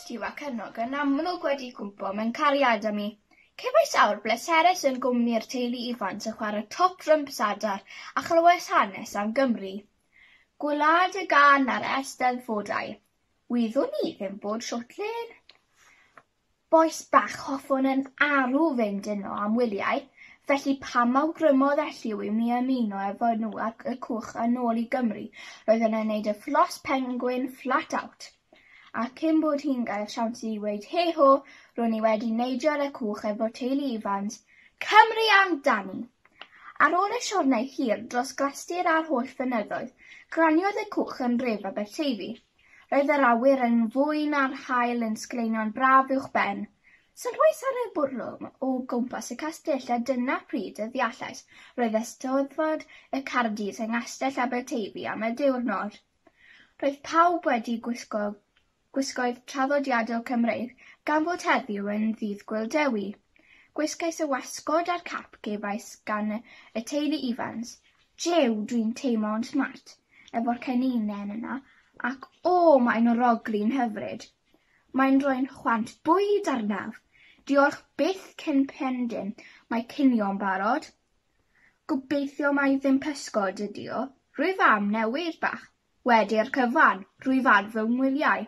Lliw ac Ynog yn amlwg wedi cwmpo mewn cariad â mi. Cefais awr bleserus yn gwmni'r teulu Ifans yn chwarae top dryms adar a chlywais hanes am Gymru. Gwlad y gân a'r Eisteddfodau, wyddwn i ddim bod shwt le yn. Bois bach hoffwn yn arw fynd yno am wyliau, felly pam awgrymodd Elliw i mi ymuno efo nhw ac Y Cwch yn ôl i Gymru roedd yn ei wneud y Fflos Pengwin flat out. A cyn bod hi'n gael siawns i weud hei ho, ro'n i wedi neidio ar y cwch efo teulu Ifans, Cymru amdani! Ar ôl y siwrnai hir dros Glastir a'r holl fynyddoedd, glaniodd y cwch yn nhref Aberteifi. Roedd yr awyr yn fwy na'r haul yn sgleino'n braf uwch ben. Sylwais ar y bwrlwm o gwmpas y castell a dyna pryd y ddeallais roedd Eisteddfod y Cardies yng Nghastell Aberteifi am y diwrnod. Roedd pawb wedi gwisgo gwisgoedd traddodiadol Cymreig gan fod heddiw yn Ddydd Gŵyl Dewi. Gwisgais y wasgod a'r cap gefais gan y teulu Ifans. Jiw, dwi'n teimlo'n smart efo'r cenynen yna ac o, mae'n oroglu'n hyfryd! Mae'n rhoi'n chwant bwyd arnaf! Diolch byth cyn pendyn, mae cinio'n barod! Gobeithio mai ddim pysgod ydi o. Rwyf am newid bach. Wedi'r cyfan, rwyf ar fy ngwyliau.